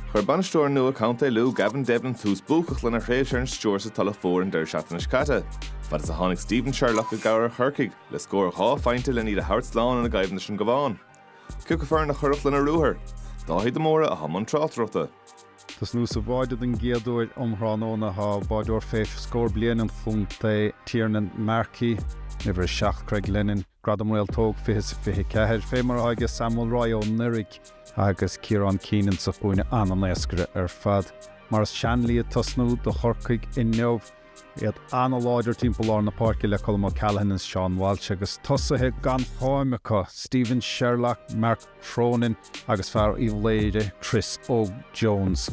Chuir bainisteoir nua contae Lú, Gavin Devlin, tús buacach lena thréimhse ar an stiúir sa Tulach Mhór an deireadh seachtaine seo caite, fad is a tháinig Stephen Sherlock i gcabhair ar Chorcaigh le scór dhá phointe len iad a thabhairt slán ina gcoimhlint leis an gCabhán. Ciocu foireann a chuirfeadh lena ruathar? Dáithí de Mórdha atá i mbun tráchtaireachta. Tosnú sa bháide don gcéad uair um thráthnóna atá ag báideoir fé scór blian an chontae, Tiernan Markey, Uimhir 7 Craig Lennon, Gradam Réaltóg 20 is 24, fé mar atá aige Sam Mulroy anuraidh agus Ciarán Keenan sa chúinne ana-éascaidh ar fad. Maurice Shanley ag tosnú do Chorcaigh inniu, iad an-láidir timpeall lár na páirce le Colm O'Callaghan is Seán Walsh agus tosaithe gan cháim acu, Stephen Sherlock, Marc Cronin agus fear Uíbh Laoire Chris Óg Jones.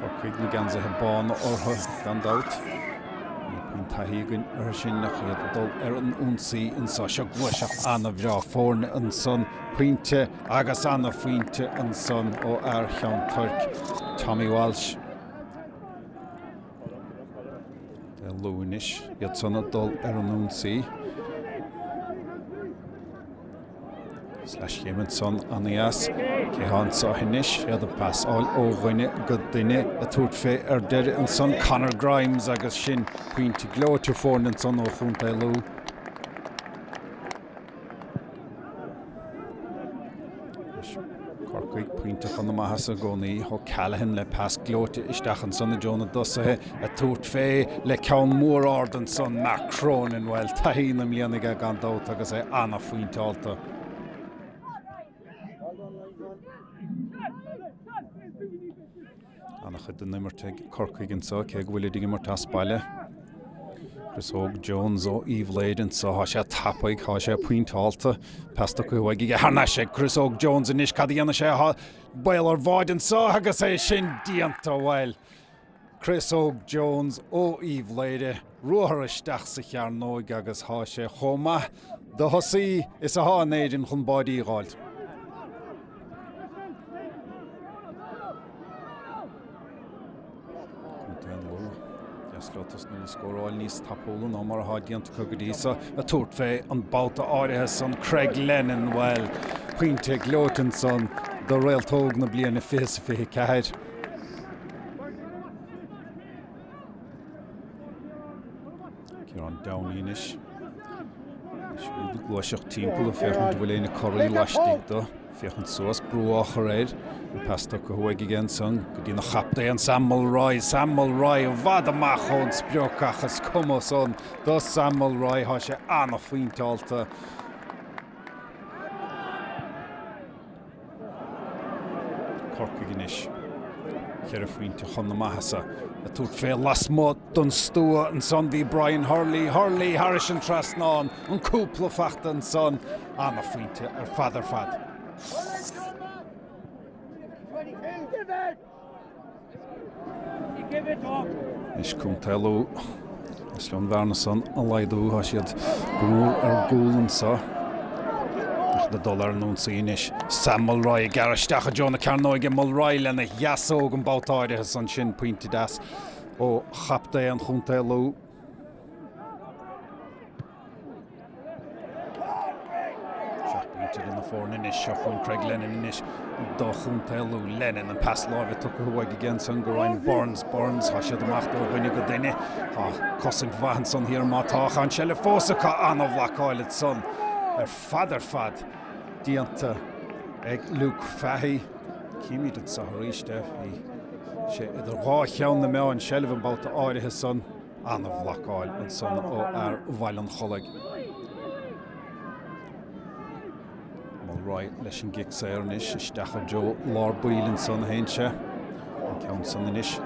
Corcaigh is na geansaithe bána orthu gan dabht. Níl puinn taithí againn orthu sin ach iad ag dul ar an ionsaí anseo. Seo gluaiseacht an-bhreá foirne ansan. Pointe agus an-phointe ansan ó fhear Cheann Toirc, Tommy Walsh. Lú anois iad san ag dul ar an ionsaí. Is leathchéim ansan an-dheas. Cé atá anso anois? Iad ag pasáil ó dhuine go duine ag tabhairt fé ar deireadh ansan, Conor Grimes agus sin pointe gleoite foirne ansan ó chontae Lú. Corcaigh pointe chun na maitheasa i gcónaí. O'Callaghan le pas gleoite isteach ansan i dtreo na dtosaithe. Ag tabhairt fé le ceann mór ard ansan, Mark Cronin. Bhuel, taithí na mblian aige gan dabht agus é ana-phointeáilte. Ana-chuid den imirt ag Corcaigh anseo, cé go bhfuilid ag imirt as baile. Chris Óg Jones ó Uíbh Laoire anso, thá sé tapaidh, thá sé pointeálta. Pas do Cathal Maguire thar n-ais ag Chris Óg Jones anois, cad a dhéanfaidh sé? Thá baol ar bháide anso agus é sin déanta! Bhuel, Chris Óg Jones ó Uíbh Laoire. ruathar isteach sa chearnóig agus thá sé chomh maith do thosaí is athá in Éirinn chun báidí a dh'fháilt. Contae an Lú, ba dheas leo tosnú ag scóráil níos tapúla ná mar athá déanta acu go dtí so. Ag tabhairt fé an babhta áirithe san Craig Lennon, bhuel, pointe gleoite ansan do réaltóg na bliana 2024. Ciarán Downey anois. Siúd ag gluaiseacht timpeall ag féachaint bhfuil éine corraí laistigh dó. Féachaint suas brú á chur air. An pas tugtha uaidh aige ansan go dtí an captaen Sam Mulroy. Sam Mulroy i bhfad amach ón sprioc ach is cuma san do Sam Mulroy, thá sé ana-phointeáilte. Corcaigh anois. Ceithre phointe chun na maitheasa ag tabhairt fé lasmuigh don stua ansan bhí Brian Hurley, Hurley thairis an trasnán, an cúpla faighte ansan. Ana-phointe ar fad ar fad. Anois Contae Lú. Is leo an bhearna san a laghdú. Tá siad go mór ar gcúl anseo. Ach le dul ar an ionsaí anois. Sam Mulroy ag gearradh isteach i dtreo na cearnóige. Mulroy lena dheasóg an babhta áirithe san. Sin pointe deas ó chaptaen Chontae Lú. Seacht bpointe idir na foirne anois. Seo chughainn Craig Lennon anois do chontae Lú. Lennon, an pas láimhe tugtha uaidh aige ansan go Ryan Burns. Burns, thá siad amach ó dhuine go duine. Thá cosaint mhaith ansan thiar má tá, thá an seilbh fós acu. An-bhlocáil ansan ar fad ar fad déanta ag Luke Fahy. Címid anso arís é. Bhí sé idir dhá cheann na meá an seilbh an babhta áirithe san. an-bhlocáil ansan ó fhear Bhaile an Chollaigh. Mulroy leis an gcic saor anois, isteach i dtreo lár baill ansan a théann sé. An ceann san anois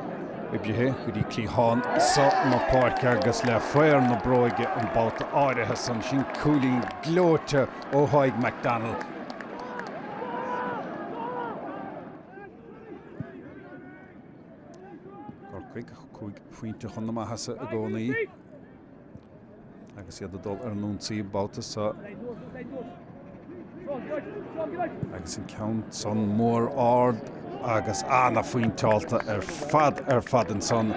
oibrithe go dtí cliathán so na páirce agus le faobhar na bróige an babhta áirithe san. Sin cúilín gleoite ó Thadhg McDonnell. Corcaigh cúig phointe chun na maitheasa i gcónaí agus iad ag dul ar an ionsaí an babhta seo agus an ceann san mór ard agus ana-phointeáilte ar fad ar fad ansan.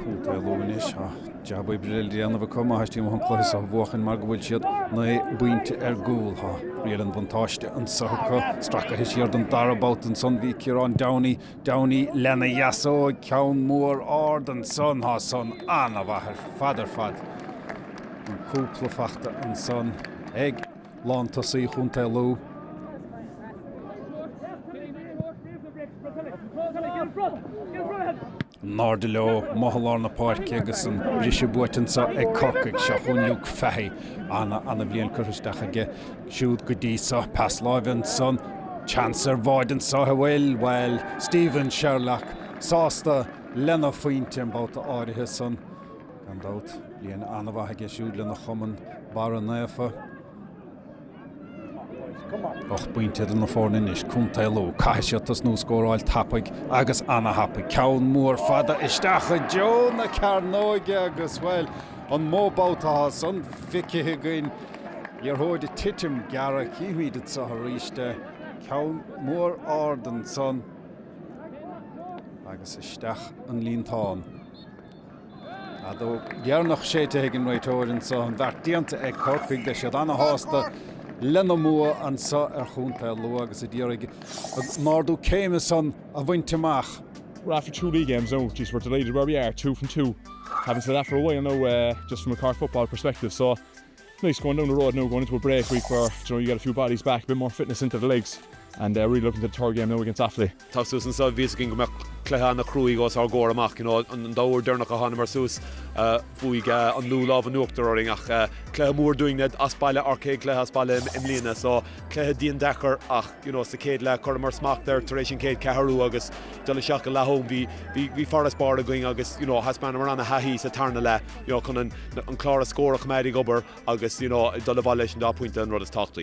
Contae Lú anois Jab oibre le déanamh acu má theastaíonn uathu an cluiche seo a bhuachaint mar go bhfuil siad naoi bpointe ar gcúl. Tá riail an bhuntáiste anseo acu. Stracaithe siar don dara babhta ansan bhí Ciarán Downey, Downey lena dheasóg, ceann mór ard ansan. Tá san ana-mhaith ar fad ar fad. An cúpla faighte ansan ag lántosaí Chontae Lú. An airde leo, mótha lár na páirce agus an briseadh buaite anseo ag Corcaigh. Seo chugainn Luke Fahy. Ana ana bhliain curtha isteach aige siúd go dtí seo. Pas láimhe ansan. Seans ar bháide anseo a bhfuil, bhuel, Stephen Sherlock sásta lena phointe an babhta áirithe san. Gan dabht, bliain ana mhaith aige siúd lena chumann Barra Naofa. Ocht bpointe idir na foirne anois, Contae Lú. Caithfidh siad tosnú ag scóráil tapaidh agus ana-thapaidh. Ceann mór fada isteach i dtreo na cearnóige agus, bhuel, an mó babhta atá san feicthe againn? Liathróid ag titim gearra, chífimid anseo arís é. Ceann mór ard ansan agus isteach sa líontán. Feadóg dheireanach séidte ag an réiteoir anseo. An beart déanta ag Corcaigh. Beidh siad ana-shásta lena mbua anseo ar chontae Lú agus iad a d'iarraidh ardú céime san a bhaint amach. We're after two league games now, geez we're delighted where we are, two from two, haven't said that for a while now just from a Cork football perspective so Nice going down the road now going into a break week where do you know you get a few bodies back, a bit more fitness into the legs and uh really looking to the third game now against Offaly. Teacht suas anseo bhí a fhios againn go mbeadh cluiche ana chruaidh os ár gcomhair amach you know an dá uair dheireanach a thánamar suas fuair an Lú lámh in uachtar orainn ach cluiche mór dúinn é as baile ár céad cluiche as baile i mbliana so cluiche diandeacair ach you know sa céad leath cuireamar smacht air tar éis an chéad ceathrú agus dul isteach go leath-am bhí bhí bhí farasbarr againn agus you know thaispeánamar ana thaithí sa tarna leath. you know, chun an clár scóir a choimeád ag obair agus, you know, dul abhaile leis an dá phointe an rud is tábhachtaí.